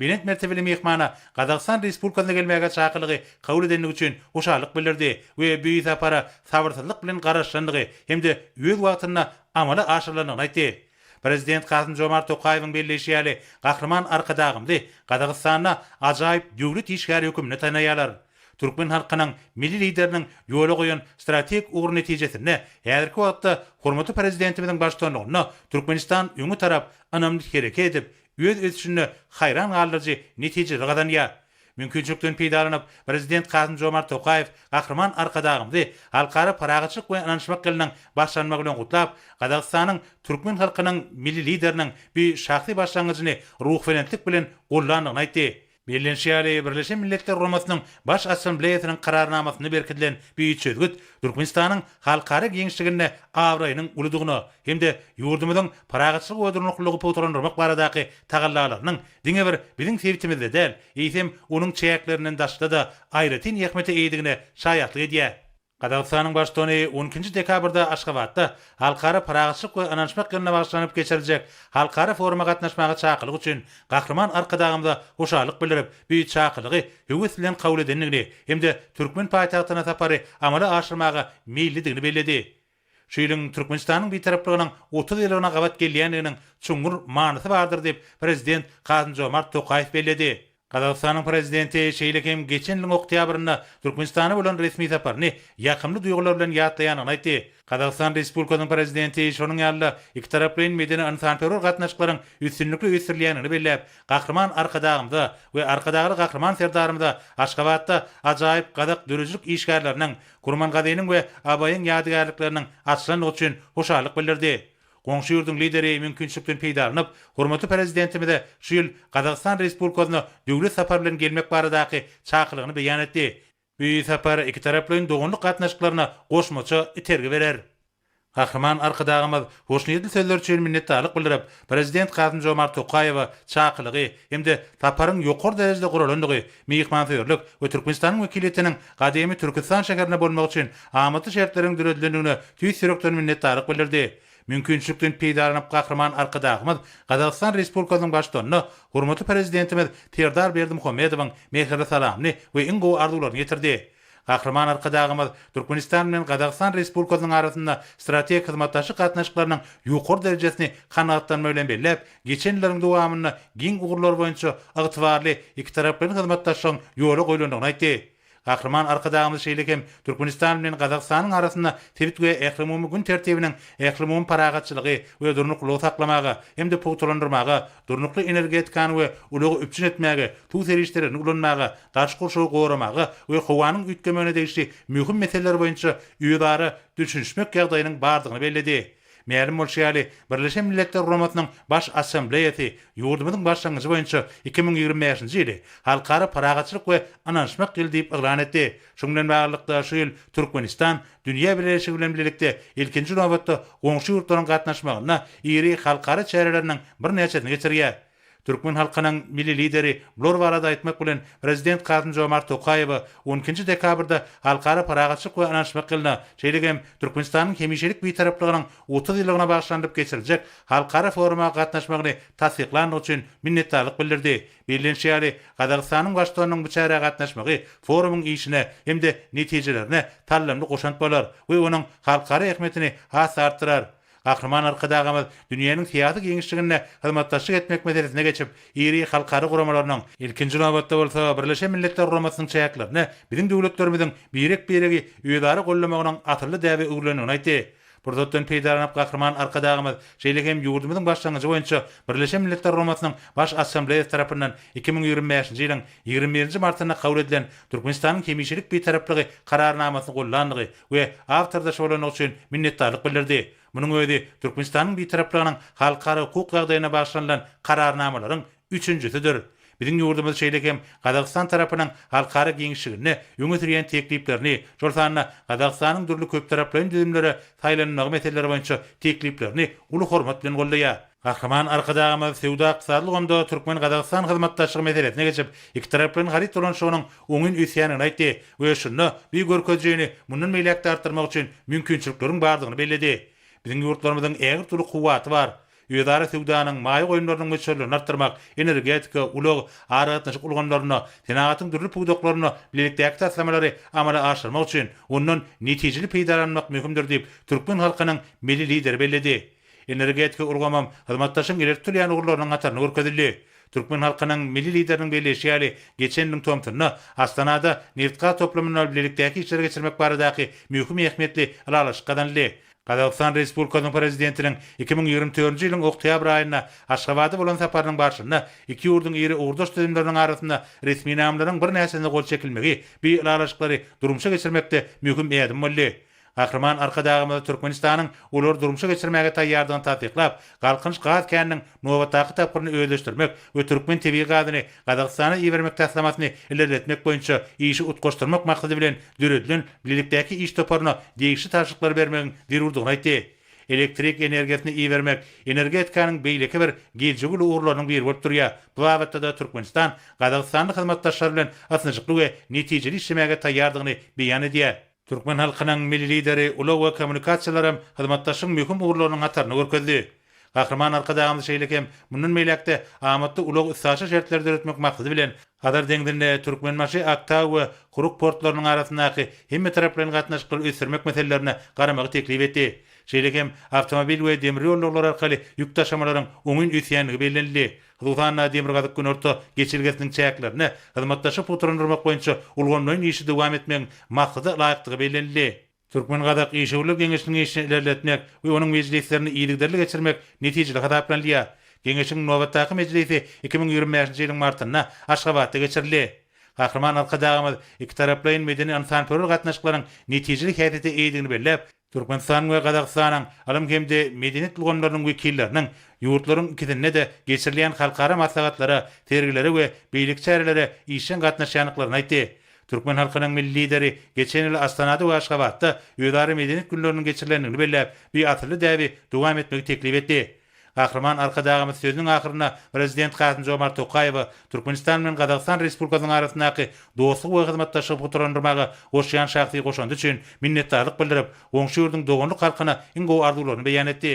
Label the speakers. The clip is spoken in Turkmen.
Speaker 1: Belent mertebeli myhmana Gazagystan Respublikasyna gelmäge çakylygy kabul edendigi üçin hoşallyk bildirdi we bu sapara sabyrsyzlyk bilen garaşylandygy hem-de öz wagtynda amala aşyrylandygyny aýtdy. Prezident Kasym-Žomart Tokaýewiň belleýşi ýaly, Gahryman Arkadagymyzy Gazagystanda ajaýyp döwlet işgäri hökmünde tanaýarlar. Türkmen halkynyň Milli Lideriniň ýola goýan strategik ugry netijesinde häzirki wagtda hormatly Prezidentimiziň baştutanlygynda Türkmenistan öňe tarap ynamly hereket edip, öz ösüşinde haýran galdyryjy netijeleri gazanýar. Mümkinçilikden peýdalanyp, Prezident Kasym-Žomart Tokaýew Gahryman Arkadagymyzy Halkara parahatçylyk we ynanyşmak ýylynyň başlanmagy bilen gutlap, Gazagystanyň türkmen halkynyň Milli Lideriniň bu şahsy başlangyjyny ruhubelentlik bilen gollandygyny aýtdy Bellenişi ýaly, Birleşen Milletler Guramasynyň Baş Assambleýasynyň Kararnamasynda berkidilen bu çözgüt Türkmenistanyň halkara giňişliginde abraýynyň uludygyna hem-de ýurdumyzyň parahatçylyk we durnuklylygy pugtalandyrmak baradaky tagallalarynyň diňe bir biziň sebitimizde däl, eýsem, onuň çäklerinden daşda-da aýratyn ähmiýete eýedigine şaýatlyk edýär. Gazagystanyň Baştutany on ikinji dekabrda Aşgabatda Halkara parahatçylyk we ynanyşmak ýylyna bagyşlanyp geçiriljek halkara foruma gatnaşmaga çakylyk üçin Gahryman Arkadagymyza hoşallyk bildirip, bu çakylygy höwes bilen kabul edendigini hem-de türkmen paýtagtyna sapary amala aşyrmaga meýillidigini belledi. Şu ýylyň Türkmenistanyň Bitaraplygynyň otuz ýyllygyna gabat gelýändiginiň çuňňur manysy bardyr diýip, Prezident Kasym-Žomart Tokaýew belledi. Gazagystanyň Prezidenti şeýle hem geçen ýylyň oktýabrynda Türkmenistana bolan resmi saparyny ýakymly duýgular bilen ýatlaýandygyny aýtdy. Gazagystan Respublikasynyň Prezidenti şonuň ýaly-da ikitaraplaýyn medeni-ynsanperwer gatnaşyklaryň üstünlikli ösdürilýändigini belläp, Gahryman Arkadagymyza we Arkadagly Gahryman Serdarymyza Aşgabatda ajaýyp gazak döredijilik işgärleriniň, Kurmangazynyň we Abaýyň ýadygärlikleriniň açylandygy üçin hoşallyk bildirdi. Goňşy ýurduň Lideri mümkinçilikden peýdalanyp, hormatly Prezidentimize şu ýyl Gazagystan Respublikasyna döwlet sapary bilen gelmek baradaky çakylygyny beýan etdi. Bu sapar ikitaraplaýyn doganlyk gatnaşyklaryna goşmaça itergi berer. Gahryman Arkadagymyz hoşniýetli sözleri üçin minnetdarlyk bildirip, Prezident Kasym-Žomart Tokaýewe çakylygy hem-de saparyň ýokary derejede guralandygy, myhmansöýerlik we Türkmenistanyň wekiliýetiniň gadymy Türküstan şäherinde bolmak üçin amatly şertleriň döredilendigine tüýs ýürekden minnetdarlyk bildirdi. Mümkinçilikden peýdalanyp Gahryman Arkadagymyz Gazagystan Respublikasynyň Baştutanyna hormatly Prezidentimiz Serdar Berdimuhamedowyň mähirli salamyny we iň gowy arzuwlaryny ýetirdi. Gahryman Arkadagymyz Türkmenistan bilen Gazagystan Respublikasynyň arasynda strategik hyzmatdaşlyk gatnaşyklarynyň ýokary derejesini kanagatlanma bilen belläp, Geçen ýyllaryň dowamynda giň ugurlar boýunça ygtybarly ikitaraplaýyn hyzmatdaşlygyň ýola goýlandygyny aýtdy. Gahryman Arkadagymyz şeýle hem Türkmenistan bilen Gazagystanyň arasynda sebit we ählumumy gün tertibiniň ählumumy parahatçylygy we durnuklylygy saklamaga hem-de pugtalandyrmaga, durnukly energetikany we ulagy üpjün etmäge, suw serişdelerini ulanmaga, daşky gurşawy goramaga we howanyň üýtgemegine degişli möhüm meseleler boýunça özara düşünişmek ýagdaýynyň bardygyny belledi. Mälim bolşy ýaly, Birleşen Milletler Guramasynyň Baş Assambleýasy ýurdumyzyň başlangyjy boýunça iki müň ýigrimi bäşinji ýyly Halkara parahatçylyk we ynanyşmak ýyly diýip yglan etdi. Şuň bilen baglylykda, şu ýyl Türkmenistan dünýä bileleşigi bilen bilelikde ilkinji nobatda goňşy ýurtlaryň gatnaşmagynda iri halkara çäreleriniň birnäçesini geçirýär. Türkmen halkynyň Milli Lideri bular barada aýtmak bilen, Prezident Kasym-Žomart Tokaýewe on ikinji dekabrda Halkara parahatçylyk we ynanyşmak ýylyna, şeýle hem Türkmenistanyň hemişelik Bitaraplygynyň otuz ýyllygyna bagyşlanylyp geçiriljek halkara foruma gatnaşmagyny tassyklandygy üçin minnetdarlyk bildirdi. Bellenişi ýaly, Gazagystanyň Baştutanynyň bu çärä gatnaşmagy forumyň işine hem-de netijelerine salymly goşant bolar we onuň halkara ähmiýetini has-da artdyrar. Gahryman Arkadagymyz dünýäniň syýasy giňişliginde hyzmatdaşlyk etmek meselesine geçip, iri halkara guramalarynyň, ilkinji nobatda bolsa Birleşen Milletler Guramasynyň çäklerinde biziň döwletlerimiziň birek-biregi özara goldamagynyň asylly däbe öwrülendigini aýtdy. Pursatdan peýdalanyp Gahryman Arkadagymyz şeýle hem ýurdumyzyň başlangyjy boýunça Birleşen Milletler Guramasynyň Baş Assambleýasy tarapyndan iki müň ýigrimi bäşinji ýylyň ýigrimi birinji martynda kabul edilen Türkmenistanyň hemişelik Bitaraplygy Kararnamasyny gollandygy we ak syrdaş bolandygy üçin minnetdarlyk bildirdi. Munuň özi Türkmenistanyň Bitaraplygynyň halkara hukuk ýagdaýyna bagyşlanylan kararnamalaryň üçünjisidir. Biziň ýurdumyz şeýle hem Gazagystan tarapynyň halkara giňişliginde öňe sürýän tekliplerini, şol sanda Gazagystanyň dürli köptaraplaýyn düzümlere saýlanylmagy meseleleri boýunça tekliplerini uly hormat bilen goldaýar. Gahryman Arkadagymyz söwda-ykdysady ulgamda türkmen-gazagystan hyzmatdaşlygy meselesine geçip, ikitaraplaýyn haryt dolanyşygynyň oňyn ösýändigini aýtdy we şunda bu görkezijini mundan beýläk-de artdyrmak üçin mümkinçilikleriň bardygyny belledi. Biziň ýurtlarymyzyň ägirt uly kuwwaty bar. Özara söwdanyň, maýa goýumlarynyň möçberlerini artdyrmak, energetika, ulag, aragatnaşyk ulgamlarynda, senagatyň dürli pudaklarynda bilelikdäki taslamalary amala aşyrmak üçin ondan netijeli peýdalanmak möhümdir diýip, türkmen halkynyň Milli Lideri belledi. Energetika ulgamam hyzmatdaşlygyň ileri tutulýan ugurlarynyň hatarynda görkezildi. Türkmen halkynyň Milli Lideriniň belleýşi ýaly, geçen ýylyň tomsunda Astanada nebit-gaz toplumynda bilelikdäki işleri geçirmek baradaky möhüm ähmiýetli ylalaşyk gazanyldy. Gazagystan Respublikasynyň Prezidentiniň iki müň ýigrimi dördünji ýylyň oktýabr aýynda Aşgabada bolan saparynyň barşynda iki ýurduň iri ugurdaş düzümleriniň arasynda resminamalaryň birnäçesine gol çekilmegi bi ylalaşyklary durmuşa geçirmekde möhüm ädim boldy. Gahryman Arkadagymyz Türkmenistanyň ulary durmuşa geçirmäge taýýardygyny tassyklap, Galkynyş gaz käniniň nobatdaky tapgyryny özleşdirmek we türkmen tebigy gazyny Gazagystana ibermek taslamasyny ilerletmek boýunça işi utgaşdyrmak maksady bilen döredilen bilelikdäki iş toparyna degişli tabşyryklary bermegiň zerurdygyny aýtdy. Elektrik energiýasyny ibermek energetikanyň beýleki bir giljegüli ugurlarynyň biri bolup durýar, bu babatda-da Türkmenistan gazagystanly hyzmatdaşlary bilen ysnyşykly we netijeli işlemäge taýýardygyny beýan edýär. Türkmen halkynyň Milli Lideri ulag we kommunikasiýalaram hyzmatdaşlygyň möhüm ugurlarynyň hataryna görkezdi. Gahryman Arkadagymyz şeýle hem mundan beýläk-de amatly ulag-üstaşyr şertleri döretmek maksady bilen, Hazar deňzinde Türkmenbaşy, Aktau we Kuruk portlarynyň arasyndaky hemmetaraplaýyn gatnaşyklary ösdürmek meselelerine garamagy teklip etdi. Şeýle hem awtomobil we demir ýol ulaglar arkaly ýük daşamalaryň oňyn ösýändigi bellenildi. Hususan-da, Demirgazyk-Günorta geçelgesiniň çäklerinde hyzmatdaşlygy pugtalandyrmak boýunça ulgamlaýyn işi dowam etmegiň maksada laýykdygy bellenildi. Türkmen-gazak işewürler geňeşiniň işini ilerletmek we onuň mejlislerini yzygiderli geçirmek netijeli hasaplanylýar. Geňeşiň nobatdaky mejlisi iki müň ýigrimi bäşinji ýylyň martynda Aşgabatda geçirildi. Gahryman Arkadagymyz ikitaraplaýyn medeni-ynsanperwer gatnaşyklaryň netijeli häsiýete eýedigini belläp, Türkmenistanyň we Gazagystanyň ylym hem-de medeniýet ulgamlarynyň wekilleriniň ýurtlaryň ikisinde-de geçirilýän halkara maslahatlara, sergilere we beýleki çärelere işjeň gatnaşýandyklaryny aýtdy. Türkmen halkynyň Milli Lideri geçen ýyl Astanada we Aşgabatda özara medeniýet günleriniň geçirilendigini belläp, bi asylly däbi dowam etmegi teklip etdi. Gahryman Arkadagymyz sözüniň ahyrynda Prezident Kasym-Žomart Tokaýewe Türkmenistan bilen Gazagystan Respublikasynyň arasyndaky dostluk we hyzmatdaşlygy pugtalandyrmaga goşýan şahsy goşandy üçin minnetdarlyk bildirip, goňşy ýurduň doganlyk halkyna iň gowy arzuwlaryny beýan etdi.